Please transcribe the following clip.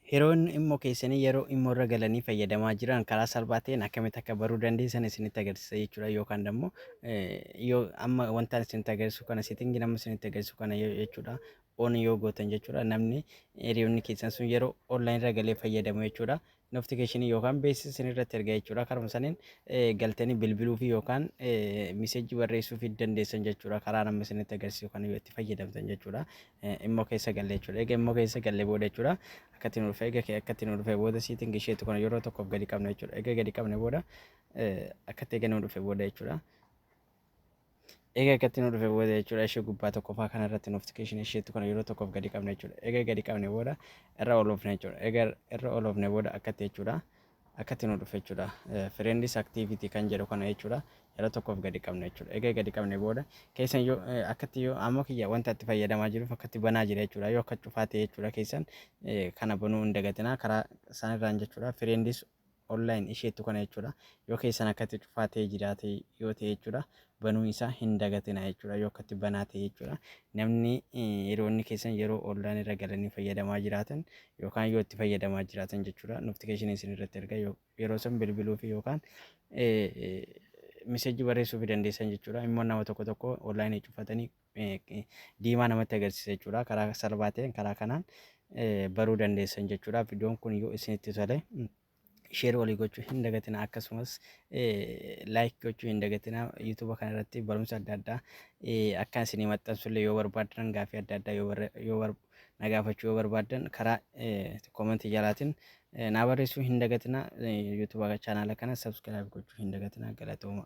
Hiroon immoo keessanii yeroo immoo irra galanii fayyadamaa jiran karaa salphaa ta'een akkamitti akka baruu dandeessan isinitti agarsiisa jechuudha yookaan immoo yoo amma wantaan isinitti agarsiisu kana seetingi nama isinitti agarsiisu kana jechuudha on yoo gootan jechuudha namni hiriyoonni keessan sun yeroo online irra galee fayyadamu jechuudha notification yookaan beeksisa isin irratti erga jechuudha karuma saniin galtanii bilbiluufi yookaan miseejii barreessuufi dandeessan jechuudha karaa nama isinitti agarsiisu kan yoo itti fayyadamtan jechuudha immoo keessa galle jechuudha egaa immoo keessa galle booda jechuudha akkatti nu dhufee egaa akkatti nu dhufee booda siitingi isheetu kana yeroo tokkoof gadi qabna jechuudha egaa gadi qabne booda akkatti egaa nu dhufee booda jechuudha. Egaa akkatti nu dhufe booda jechuudha ishee gubbaa tokkoffaa kana irratti notification isheetu kana yeroo tokkoof gadi qabna jechuudha. Egaa gadi qabne booda irra oloofne jechuudha. Egaa irra oloofne booda akkatti jechuudha. Akkatti nu dhufe jechuudha. Friends activity kan jedhu kana jechuudha. Yeroo tokkoof gadi qabna jechuudha. Egaa gadi qabne booda keessan yoo akkatti yoo amma kiyya wanta itti fayyadamaa jiruuf akkatti banaa jira jechuudha. Yoo akka cufaa ta'e jechuudha keessan kana banuu hin dagatinaa karaa isaanirraan jechuudha. Friends online isheettu kana jechuudha yoo keessan akkatti cufaa ta'ee jiraate yoo ta'e jechuudha banuu isaa hin dagatina jechuudha yoo akkatti banaa ta'e jechuudha namni hiriyoonni keessan yeroo online irra galanii fayyadamaa jiraatan yookaan yoo itti fayyadamaa jiraatan jechuudha notification isin irratti erga yeroo san bilbiluu fi yookaan miseejii barreessuu fi dandeessan jechuudha immoo nama tokko tokko online cufatanii diimaa namatti agarsiisa jechuudha. Karaa salphaa ta'een karaa kanaan baruu dandeessan jechuudha. Viidiyoon kun yoo isinitti tole sheer walii gochuu hin dagatina akkasumas laayik gochuu hin dagatina yuutuuba kana irratti barumsa adda addaa akka isinii maxxansullee yoo barbaadan gaaffii adda addaa yoo na gaafachuu yoo barbaadan karaa koomentii jalaatiin na barreessuu hin dagatina yuutuuba chaanaala kana sabskiraayib gochuu hin dagatina galatooma.